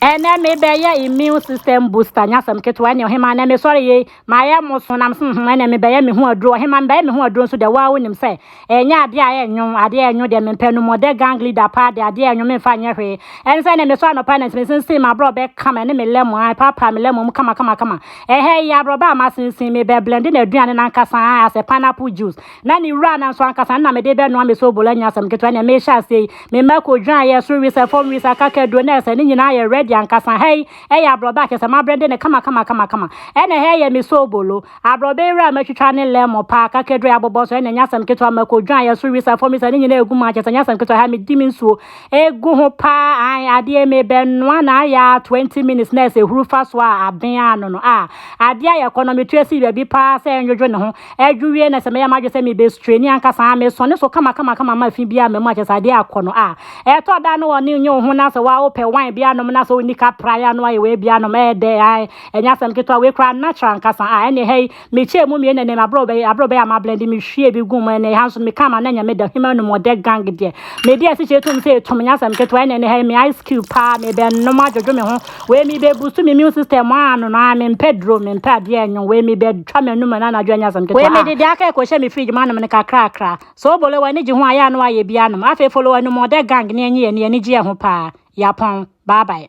Ɛnɛ me bɛ yɛ immune system booster nyɛ asɛm ketewa ɛnɛ ɔhemaa ɛnɛ me sɔre yei ma yɛ mo so nam sɛ hmm ɛnɛ me bɛ yɛ me ho aduro ɔhemaa me bɛ yɛ me ho aduro nso dɛ waa wonim sɛ ɛnyɛ adeɛ a ɛnyo adeɛ a ɛnyo deɛ me mpɛ no mɔdɛ gang leader paa deɛ adeɛ a ɛnyo me mfa nyɛ hwee ɛne sɛ ɛnɛ me sɔ anɔpa ɛnɛ nti me sensen ma abrɔ bɛ kama ɛne me lɛmo a paa paa me lɛmo mu kama kama kama ɛhɛ yi abrɔbɛ a ma sensen me bɛ blende na aduane nankasa a asɛ pineapple juice Na ne wura nanso anka saa na mede rebɛnoa me sobola nyɛ asɛm ketewa nea merehyɛ aseɛ yi. Me mma ko dwan yɛ soro wisa, fam wisa, kakaduro, na ɛsɛ ne nyinaa yɛ ready ankasa. Ha yi, ɛyɛ aborɔbɛ a kyerɛ sɛ mabrɛnde no kamakamakamakamakama. Ɛna ha yi yɛ me sobolo. Aborɔbɛ yi wura a matwitwa ne lemon paa, kakaduro yi abobɔ so, ɛna ɛnyɛ asɛm ketewa. Mako dwan yɛ soro wisa, fam wisa, ne nyinaa ɛgu mu a kyerɛ sɛ ɛnyɛ asɛm ketewa. Ha yi, medi me nsuo gu ho paa, ae, adeɛ yi mebɛnoa no ayɛ ara 20 minutes na ɛsɛ huru fa so a aben ara no no, ah, adeɛ ayɛ kɔnnɔ, metu asi baabi paa sɛ ɛndwodwo ne ho. Ɛdwo wie na sɛ mɛyɛ m'adwene sɛ mebɛ straini ankasa a, mesɔ ne so kama kama kama ma fi biara mma mu akyɛ sɛ adeɛ akɔ no a. Ɛtɔ da a na wɔ ne nyɛ wo ho na sɛ wa wo pɛ wine bi anom na sɛ wo ni ka pra ya no ayɛ wei bi anom ɛɛ dɛ ae ɛnyɛ asɛm ketewa wei koraa natural ankasa a ɛne hɛi me kyɛɛ mu mmienu ɛne m'abrɛ bɛyɛ abrɛ bɛyɛ a ma blend me hwie bi gu mu ɛne ha nso me ka ma na nyɛ me da hima nom ɔdɛ gang deɛ me deɛ si kyɛ tom sɛ ɛtom nyɛ asɛm ketewa ɛne ɛne hɛi me ice cube paa me bɛ nom adwodwo me ho Wei me bɛ busu me immune system aa no no aa me mpɛ duro me mpɛ adeɛ nyo wei me bɛ twa me anum ɛna anadwo ɛnyɛ asɛm ketewa aa. Wei me de deɛ aka yi kɔ hyɛ me fridge mu anom no kakrakra. So bolo w'ani gye ho a yɛ a na w'ayɛ bi anom. Afei follow anumɔdɛ gang ne ɛnye yɛn yɛn ani gye yɛ ho paa. Yapɔn. Bye bye.